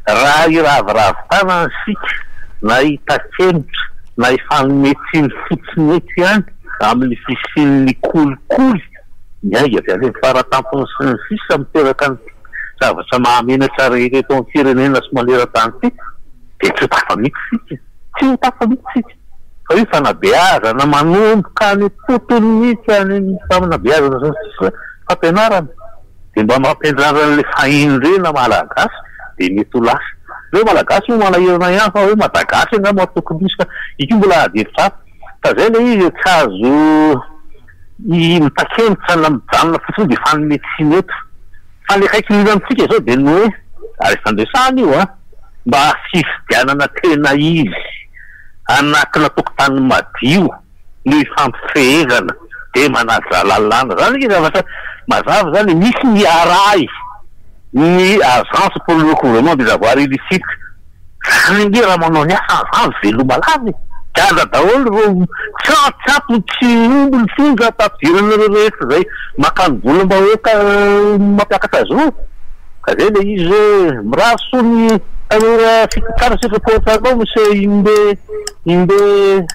raha hiraviravy tanana isika na hitakemitra na hifanome tsiny fotsiny eto ihany amin'ny fisian'ny kolikoly miainga avy any amin'ny faratampony sy ny sisa miteraka ny zavatra mahamenatra rehetra eto amin'ny firenena sy maneran-tany ity, dia tsy ho tafa mihitsy isika. Tsy ho tafa mihitsy isika. Fa io fanabeazana manomboka any am-potony mihitsy, any amin'ny fanabeazana sy ny fampianarana, dia mba mampiandrarina an'ilay fahendrena malagasy, dia mety ho lasa. Ny hoe malagasy moa manahirana ihany fa hoe madagasy angamba no tokony hisy fa io koa mbola adihevitra hafa. Fa izay ilay izy e, tsy azo mitakianitra na mijanona fotsiny hoe dia efa any Meksina eto. Fa ny akaiky mila amintsika izao dia ny hoe, ary efa niresahana io an, mba fifidianana tena izy anatina tokotany madio no ifampifehezana dia manaja lalàna. Izany anie zavatra mazava izany, misy ny arahy ny agence pour le recouvrement des avoirs illicites. Zany ange raha manao ny asa aza azo veloma lava e! Gaga daholo ireo tsy an-tsakony tsy omby ny fonja ampadiran'ireo rehetra izay makany volam-bahoaka mampiakatra azy ireo. Ka zay ilay izy hoe mirary soa ny tanora fito tsara sy efapolo tsara anao Monsieur Imbe Imbe.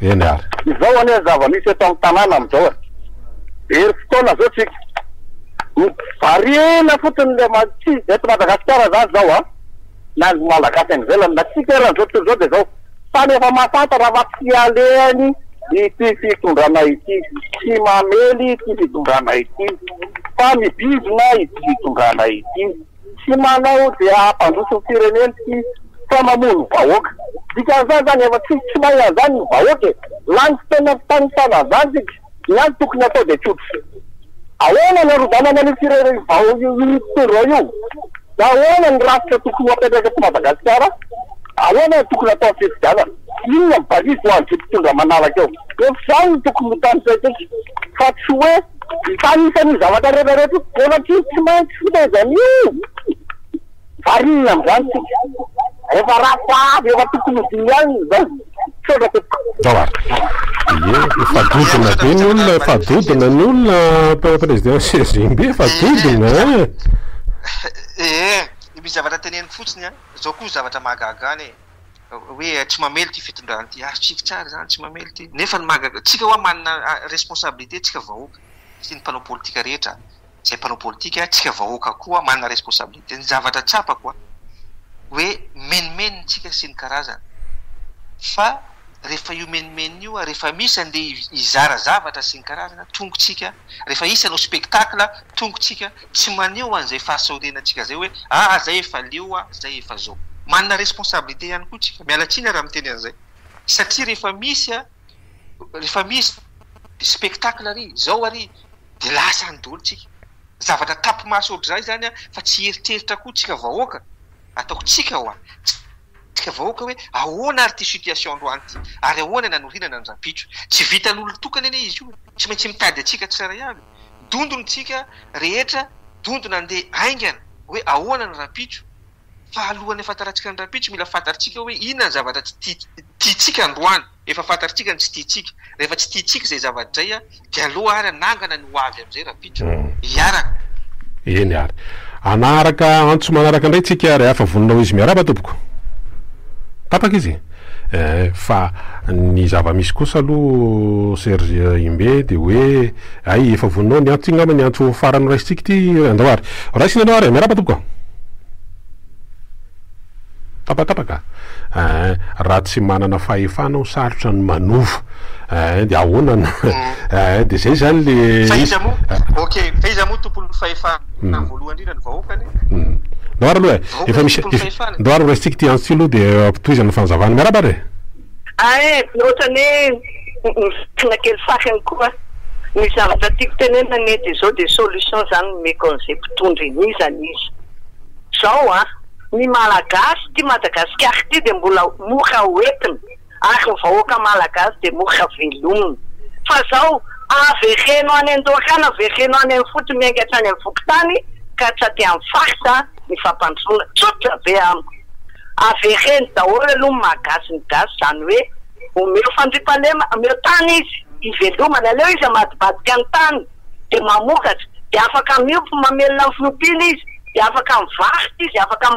Eny ary. Izao anie ny zava-misy eto amin'ny tanàna amin'izao e! Very fotoana izao isika. Variana fotsiny ilay ma-, tsy eto Madagasikara izany izao an! Na ny Malagasy any ivelany, na isika ary amin'izao tontolo izao dia izao. Samy efa mahafantatra fa tsy alehany ity fitondrana ity, tsy mamely ity fitondrana ity, fa mibizina ity fitondrana ity. Tsy manao dia hampandroso ny firenena sy sao mamono vahoaka. Dikan'izany zany efa tsy tsy mahay an'izany ny vahoaka e! Lany fotoana fitanisaina an'izany tsika. Ny azy tokony atao dia tsotra. Ahoana ny harodànana an'io firenena io vao io mpitondra io? Ahoana ny rafitra tokony ho apetraka eto Madagasikara? Ahoana ny tokony atao amin'ny fifidianana? Inona ny balise ho an'izay mpitondra manaraka eo? Efa izany no tokony ho tanisaintsika fa tsy hoe. Fa anisan'io zavatra rehetra rehetra io, bôlatra io tsy maintsy fotaka izany io. Variana amin'izany isika. Rehefa rafitra avy, rehefa tokony ho dimy alina izao. Misaotra tompoko. Ye, efa dodona be ny olona, efa dodona ny olona tao présidence SGB, efa dodona eh! Ee, misy zavatra teneniko fotsiny an, zao koa zavatra mahagaga an e. hoe tsy mamely ity fitondrana ity, azotsika tsara izany, tsy mamely ity, nefa ny mahagaga, tsika hoa manana responsabilité tsika vahoaka, sy ny mpanao politika rehetra, izay mpanao politika, tsika vahoaka koa manana responsabilité, ny zavatra tsapako an, hoe menomenony tsika sy ny karazany, fa rehefa io menomenony io an, rehefa misy andeha hizara zavatra sy ny karazany an, tongotsika, rehefa hisy hanao spectacle an, tongotsika. Tsy maneho an'izay fahasaorenantsika izay hoe aa zay efa leo a, zay efa zao. Manana responsabilité ihany koa tsika, miala tsiny ara miteny an'izay, satria rehefa misy a, rehefa misy spectacle ary, zao ary, dia lasa any daholo tsika. Zavatra tapi-maso ohatr'izay izany a, fa tsy hieritreritra koa tsika vahoaka, ataoko tsika hoa, tsika vahoaka hoe ahoana ary ity situation androany ity, ary ahoana ny hanorenana ny rahampitso. Tsy vitan'olon-tokana anie izy io, tsy maintsy mitady antsika tsirairay avy. dondon tsika rehetra dondona andeha aingana hoe ahoana ny rahampitso fa alohan'ny afantarantsika ny rahampitso mila fantatritsika hoe inona ny zavatra tsy tiantsika androany efa fantatritsika ny tsy tiantsika rehefa tsy tiantsika izay zavatra izay a dia aloha ary anangana ny ho avy amin'izay rahampitso iaraka eny ary anaharaka antso manaraka indray tsika rehafa vonona ho izy miarahaba tompoko tapaka izy Eh, fa ny zava-misy kosa aloha Serge Imbe dia hoe hay efa voninao ny antso, ity ngamba ny antso farany noraisintsika ity andao ary raisina ianao ary, miarahaba tompoko. Tapatapaka eh, raha tsy manana fahefana aho sarotra ny manova eh, dia ahoana no eh, dia izay izany le izy. Fa iza moa, ok, fa iza moa tompon'ny fahefana? na voalohany indrindra ny vahoaka anie. Doara aloha e. Efa misy Doara raisintsika ity antso ity aloha dia ampitohizana fanazavana. Miarahaba ary e. Ah eh, ohatrany hoe mivitrina kely fahiny koa ny zavatra tiako tenenina anie dia izao dia solution zany nomeko an'izay mpitondra eny iza n'iza zao an! ny malagasy ity Madagasikara ity dia mbola mora hoentina. ary ny vahoaka malagasy dia mora velomina. Fa izao, avereno any an-dohakana, avereno any amin'ny fotony miainga hatrany amin'ny fokontany ka tsy aty amin'ny faritra ny fampandrosoana. Tsotra be amiko. Avereno daholo aloha ny maha gasy ny gasy, izany hoe omeo fandriampahalema, omeo tany izy hivelomany, aleo izy hamadibadika ny tany dia mamokatra, dia afaka miompy mamelona ny fiompiana izy, dia afaka mivarotra izy, afaka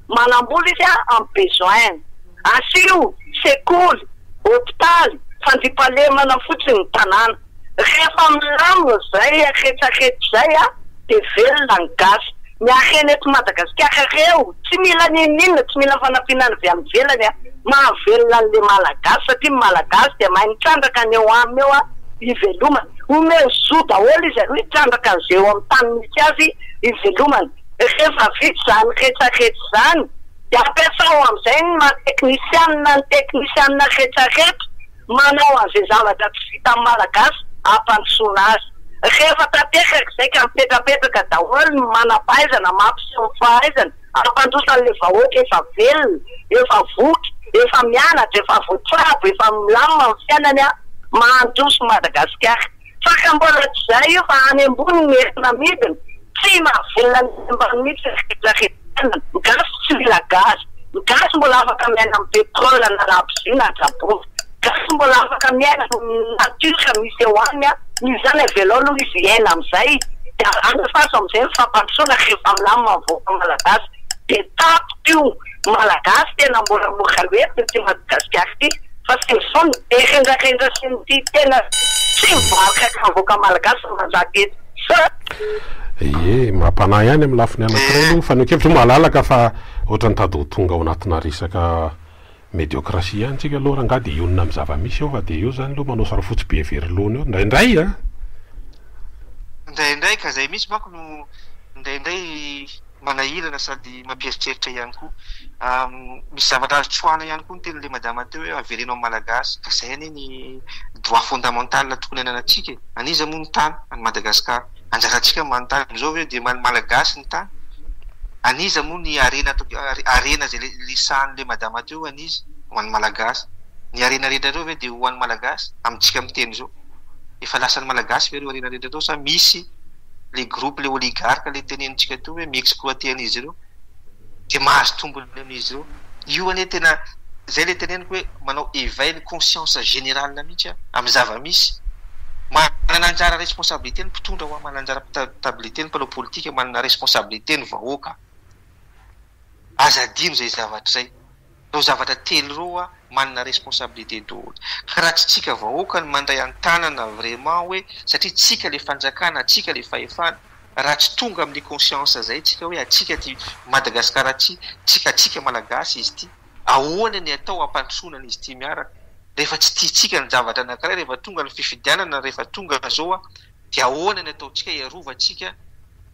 manambola izy amin'ny besoin-ny. Asio sekoly, hopitaly, fandriampahalemana fotsiny ny tanàna. Rehefa milamina izay retsaretra izay dia velona ny gasy. Ny harena eto Madagasikara ireo tsy mila n'inon'inona, tsy mila fanampiana avy any ivelany. Mahavelona an'ilay malagasy satria ny malagasy dia mahay mitrandraka ny eo aminy eo hivelomany. Omeo zo daholo izy aloha hitrandraka an'izay eo amin'ny tany misy azy hivelomany. Rehefa vita izany retsaretra izany. dia ampiasao amin'izay ny maha teknisianina ny teknisianina rehetra rehetra manao an'izay zavatra tsy vitan'ny Malagasy hampandrosoana azy. Rehefa tanteraka izay ka mipetrapetraka daholo ny manam-pahaizana mampiseho ny fahaizany hampandroso an'ilay vahoaka efa velona, efa voky, efa mianatra, efa voatsabo, efa milamina ny fiainany an! Mahandroso Madagasikara. Faka mbola tsy zay io fa any ambony ny entona amidiny, tsy mahavelona ny any ambany mihitsy ny fihetsiketsehana, ny gasy tsy mila gaz, ny gasy mbola afaka miaina amin'ny pétrole na labozia na jabovy, gasy mbola afaka miaina amin'ny nature misy eo any an, noho izany avelao aloha izy hiaina amin'izay dia andefaso amin'izay ny fampandrosoana rehefa milamina ny vahoaka malagasy dia tapitra io. Malagasy tena mbola mora lety ity Madagasikara ity fa tsy izao ny be rendrarendra sy ny tia tena tsy mivaroka ka ny vahoaka Malagasy no manjaka eto Seuh. Ie, mampanahy ihany amin'ny lafiny anankiray aloha ny fanehoan-kevitra. Io malalaka fa ohatran'ny tady ho tonga ao anatina resaka mediocratie ihany tsika aloha rangaha dia hionona amin'ny zava-misy eo fa dia eo izany aloha manao sary-fotsy be very laona eo indraindray an! Indraindray ka izay mihitsy manko no indraindray manahirana sady mampieritreritra ihany koa. Misy zavatra azo tsoahina ihany koa ny tenin'ilay madama teo hoe avereno amin'ny Malagasy. Ka izay anie ny droit fondamental tokony ananantsika e! An'iza moa ny tany any Madagascar? Anjarantsika ny manontany amin'izao ve dia an'ny Malagasy ny tany? An'iza moa ny harena harena izay resahin'ilay madama teo an'iza? Ho an'ny Malagasy. Ny harena rehetra ireo ve dia ho an'ny Malagasy? Amintsika miteny izao. Efa lasan'ny Malagasy ve ireo harena rehetra ireo sa misy le groupe le oligarque le tenenintsika teo hoe mi-exploiter an'izy ireo de mahazo tombony amin'izy ireo, io anie tena zay le teneniko hoe manao éveil ny conscience générale mihitsy an amin'ny zava-misy, manana anjara responsabilité ny mpitondra hoa, manana anjara pitabilité ny mpanao politika, manana responsabilité ny vahoaka, aza adino izay zavatra izay. ireo zavatra telo ireo wa manana responsabilité daholo ka raha tsy tsika vahoaka no mandray antanana vraiment hoe satria tsika le fanjakana tsika le fahefana raha tsy tonga amin'ny conscience zay tsika hoe atsika ty Madagascar ty tsika atsika malagasy izy ty ahoana ny atao hampandrosoana an'izy ty miaraka rehefa tsy tiantsika ny javatra anakiray rehefa tonga ny fifidianana rehefa tonga zao wa dia ahoana ny ataontsika hiarovantsika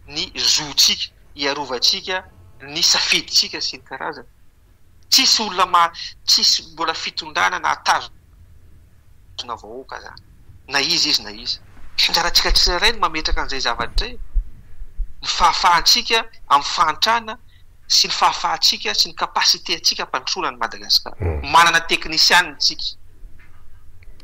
ny zo tsika hiarovantsika ny safidintsika sy ny karazany. Tsisy olona ma- tsisy mbola fitondrana nahatazona vahoaka zany, na iza izy na iza. Anjarantsika tsirairay ny mametraka an'izay zavatra izay, ny fahafahantsika amin'ny fahantrana sy ny fahafahantsika sy ny capacité-ntsika hampandrosoana an'i Madagasikara. Manana teknisianina isika.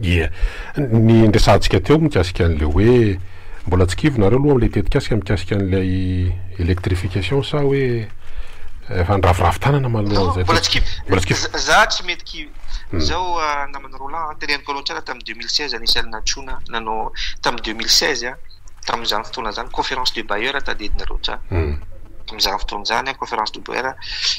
Ie. Ny niresahantsika teo mikasika an'ilay hoe mbola tsy kivy nareo aloha amin'ilay tetikasika mikasika an'ilay électrification sa hoe efa niraviravy tanana manoloan'izay Mbola tsy kivy. Mbola tsy kivy. Za tsy mety kivy. Izao namana Roland, teneniko anao tsara tamin'ny deux mille seize anisan'ny nantsoina nanao tamin'ny deux mille seize. tamin'izany fotoana izany, Conférence de Bayer tadidina loatra tamin'izany fotoana izany, Conférence de Bayer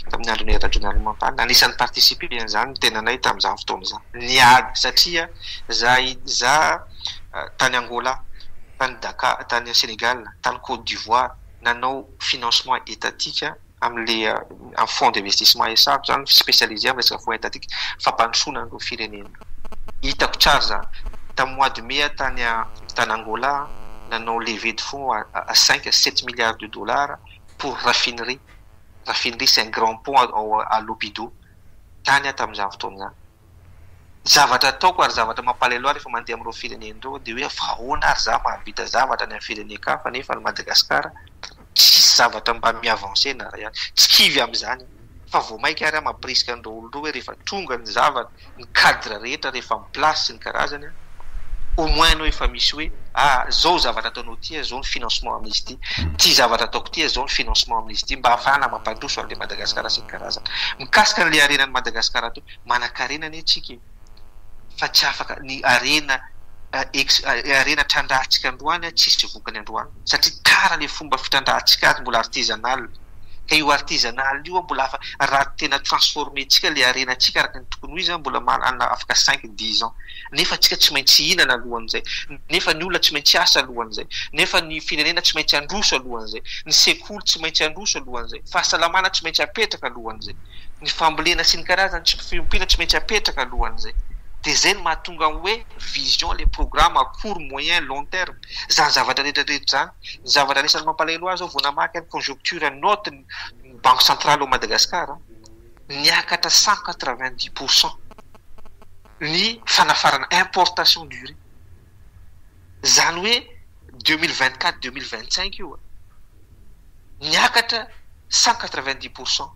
tamin'ny andron'i Rajoelina Ranomampanana, anisan'ny ni-participer an'izany ny tenanay tamin'izany fotoana izany. Niady satria izaho izaho tany Angola, tany Dakar, tany Sénégal, tany Côte d'Ivoire nanao financement étatique Amin'ilay amin'ny fonds d'investissement SA ko izany, spécialisé amin'ny resaka fonds étatique, fampandrosoana an'ireo firenena. Hitako tsara izany. Tamin'ny mois de mai aho tany tany Angola nanao levée de fonds à cinq à sept milliards de dollars pour raffinerie. Raffinerie c'est un grand pont à Lobito. Tany aho tamin'izany fotoana izany. Ny zavatra ataoko ary zavatra mampalahelo ahy rehefa mandeha amin'ireo firenena ireo dia hoe fa ahoana ary za mahavita zavatra any amin'ny firenen-kafa nefa any Madagascar tsisy zavatra mba mi-avancer na iray ihany. Tsy kivy amin'izany aho fa vao mainka ary aho mampirisika an'ireo olona ireo hoe rehefa tonga ny zavatra, ny cadre rehetra rehefa mi-place sy ny karazany, au moins anao efa misy hoe ah zao zavatra ataonao ity ah, zao ny financement amin'izy ity, ity zavatra ataoko ity ah, zao ny financement amin'izy ity mba hahafahana mampandroso an'ilay Madagascar sy ny karazany. Mikasika an'ilay harenan'i Madagascar ato, manankarena anie tsika e! fa tsy afaka ny harena harena trandrahantsika androany tsy hisy vokany androany satria tara le fomba fitrandrahantsika azy mbola artisanal ka io artisanal io mbola afa raha tena transformer tsika le harenantsika araka ny tokony ho izy mbola manana afaka cinq dix ans nefa tsika tsy maintsy hihinana alohan'izay nefa ny olona tsy maintsy hiasa alohan'izay nefa ny firenena tsy maintsy handroso alohan'izay ny sekoly tsy maintsy handroso alohan'izay fahasalamana tsy maintsy hapetraka alohan'izay ny fambolena sy ny karazany tsy mifehim-pila tsy maintsy apetraka alohan'izay dia zay no mahatonga ny hoe vision ilay programme à court, moyen, long terme izany zavatra rehetrarehetra izany, ny zavatra anisan'ny mampalahelo ahy zao vao namaky ny conjoncture note ny banque centrale ao Madagascar an, niakatra cent quatre vingt dix pour cent ny fanafarana, importation du riz. Zany hoe deux mille vingt quatre deux mille vingt cinq io a! Niakatra cent quatre vingt dix pour cent,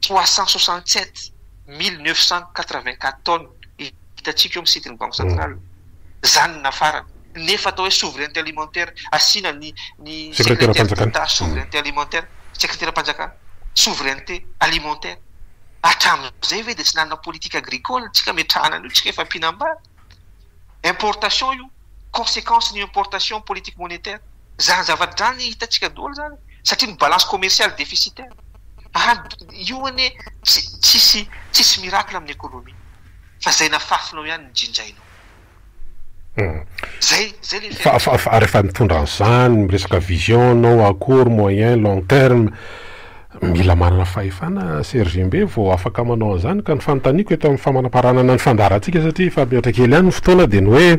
trois cent soixante sept mille neuf cent quatre vingt quatre tonnes hitantsika eo amin'ny site ny banque centrale. Zany no nafarana. Nefa atao hoe souveraineté alimentaire, asiana ny ny secrétaire d'etat souveraineté alimentaire, sekreteram-panjakana, souveraineté alimentaire. Hatramin'izay ve dia tsy nanana politique agricole tsika ametrahana an'io tsika efa mpinambady? importation io, consequence ny importation politique monétaire, izany zavatra izany hitantsika daholo izany satria ny balance commerciale déficitaire, ary io anie tsisy tsisy miracle amin'ny économie fa izay nafafinao ihany no jinjainao. Izay izay le fiainana. Fa fa fa rehefa mitondra an'izany miresaka vision anao akory moyen long terme. Mila manana fahefana sy rgm be vao afaka manao an'izany ka ny fanontaniako eto amin'ny famanamparanana ny fandaharantsika satria efa mihoatra kely ihany ny fotoana dia ny hoe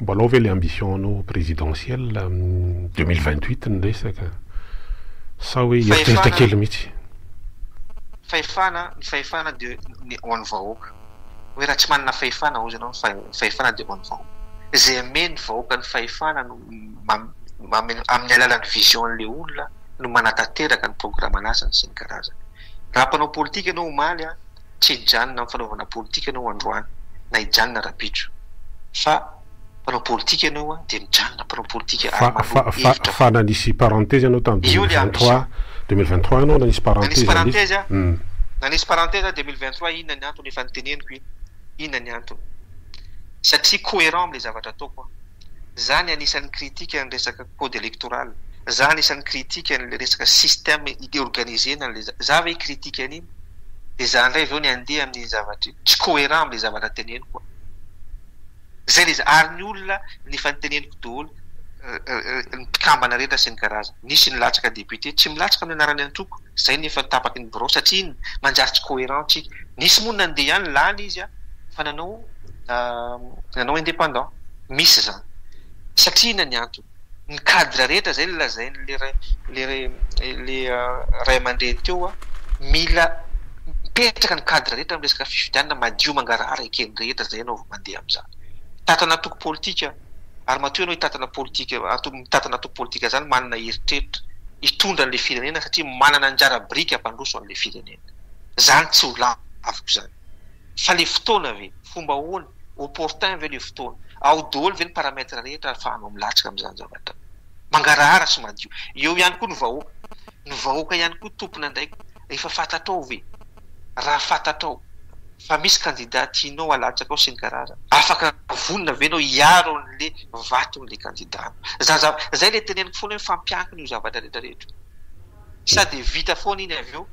mbola ao ve ilay ambition anao ho présidentiel amin'ny deux mille vingt huit ny resaka sa hoe hieritreritra kely mihitsy? Fahefana, ny fahefana dia ny ho an'ny vahoaka. Hoe raha tsy manana fahefana hozy ianao ny fahefana dia ho an'ny vahoaka. Izay hamehy ny vahoaka ny fahefana no. amin'ny alalan'ny vision-n'ilay olona no manatanteraka ny programan'asany sy ny karazany. Raha mpanao politika ianao omaly, tsy hijanona amin'ny fanaovana politika ianao androany, na hijanona rabitro, fa mpanao politika ianao dia mijanona mpanao politika ary manao hevitra fo. Fa, fa nanisy parenthèse ianao tamin'ny deux mille vingt trois, deux mille vingt trois ianao nanisy parenthèse anie. Nanisy parenthèse aho, nanisy parenthèse aho deux mille vingt trois, inona ny antony? Efa noteneniko iny, inona ny antony? Satria cohérent amin'ilay zavatra ataoko aho. za ny anisan'ny critique ny resaka code electoral, za anisan'ny critique an'ilay resaka système organisena an'ilay zavatra, za ve hi-critique an'iny? Dia za indray izao ny handeha amin'iny zavatra iny, tsy cohérent amin'ilay zavatra teneniko aho. Izay ilay izy. Ary ny olona, ny efa noteneniko daholo, ny mpikambana rehetra sy ny karazany. Nisy nilatsaka député, tsy milatsaka no anarany antoko, zay nefa tapaky ny birao satria iny manjary tsy cohérent tsika. Nisy moa nandeha ihany, lany izy an, fa nanao nanao indépendant. Misy zany. Satria inona ny antony? Ny cadre rehetra zay lazainy le le ray amandreny teo an, mila mipetraka ny cadre rehetra am resaka fifidianana madio mangarahara eken'ny rehetra zay ianao vao mandeha amzany. Tato anatoko politika. Ary matoa ianao hitantana politika ato mitantana ato politika izany manana eritreritra hitondra an'ilay firenena satria manana anjara biriky hampandroso an'ilay firenena. Izany tsy ho laviko izany. Fa ilay fotoana ve? Fomba ahoana? Opportun ve ilay fotoana? Ao daholo ve ny paramètres rehetra ahafahanao milatsaka amin'izany zavatra? Mangarahara sy madio. Eo ihany koa ny vahoaka. Ny vahoaka ihany koa tompon'andraikitra. Efa fantatrao ve? Raha fantatrao fa misy kandida tianao halatsakao sy ny garage, afaka vonona ve ianao hiaro an'le vaton'le kandidanao? Za za zay le teneniko foana hoe mifampiankina io zavatra rehetra rehetra io. Sa de vita foana iny avy eo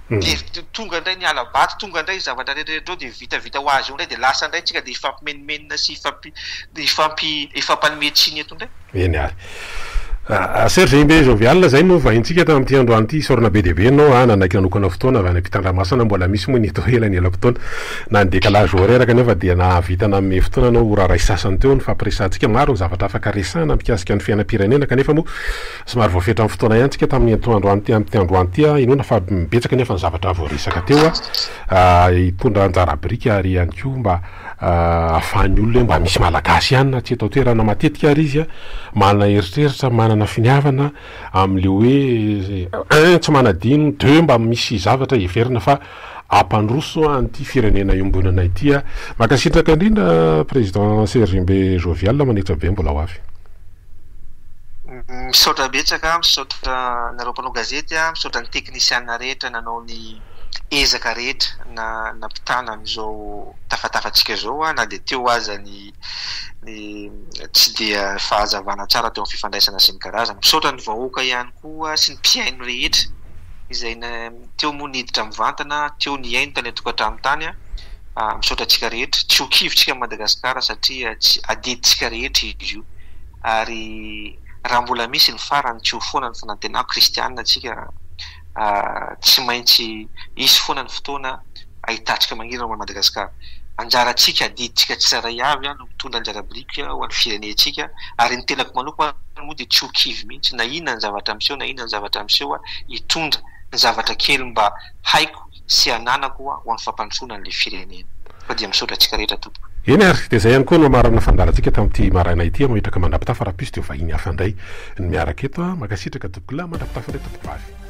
de tonga indray ny hala-bato, tonga indray io zavatra rehetra rehetra io de vita vita ho azy eo indray de lasa indray tsika de hifampimenomenona sy hifampi-. hifampanome tsiny eto indray. Eny ary. Serge Imbe Jovial, izay no vahintsika tamin'ity androany ity. Isaorana be dia be anao an, nanaiky nanokana fotoana avy any am-pitandramasana, mbola misy moa ny eto ho ela ny elam-potoana. Na ny décalage horaire kanefa dia nahavita nanome fotoana anao ora iray sy sasany teo. Nifampiresahantsika maro ny zavatra afaka resahana mikasika ny fiainam-pirenena kanefa moa somary voafetra amin'ny fotoana ihany tsika tamin'ny atoandroany ity amin'ity androany ity. Inoana fa betsaka anefa ny zavatra voaresaka teo hitondra anjara biriky ary ihany koa mba ahafahan'ny olona hoe mba misy Malagasy ihany na tsy eto an-toerana matetika ary izy an, manana eritreritra, manana finiavana amin'ilay hoe un, tsy manadino, deux, mba misy zavatra heverina fa hampandroso an'ity firenena iombonana ity. Mankasitraka indrindra Président Serge Mbe Jovial, manetra be, mbola ho avy. Misaotra betsaka, misaotra anareo mpanao gazety, misaotra ny teknisiana rehetra nanao ny ezaka rehetra nampitana an'izao tafatafantsika izao na dia teo aza ny tsy dia fahazavana tsara teo amin'ny fifandraisana sy ny karazany. Misaotra ny vahoaka ihany koa sy ny mpihaino rehetra izay teo moa niditra mivantana, teo nihaino tany an-tokantrano tany. Misaotra antsika rehetra. Tsy ho kivintsika an'i Madagasikara satria tsy adidintsika rehetra izy io. Ary raha mbola misy ny farany tsy ho foana ny fanantenako, kristiana isika, tsy maintsy hisy foana ny fotoana hahitantsika mangirana ho an'i Madagasikara. Anjarantsika, adidintsika tsirairay avy, no mitondra anjara biriky ho an'ny firenentsika. Ary ny tenako manokana moa dia tsy ho kivy mihitsy na inona ny zavatra miseho na inona ny zavatra miseho, hitondra ny zavatra kely mba haiko, sy ananako ho amin'ny fampandrosoana an'ilay firenena. Fa dia misaotra antsika rehetra Tompoko. Eny ary, dia izay ihany koa no amarana fandaharantsika tamin'ity maraina ity aho mahitraka mandrapitafa rahampitso dia ho vahiny hafa indray ny miaraka eto an! Mankasitraka Tompokolahy mandrapitafa indray Tompokovavy.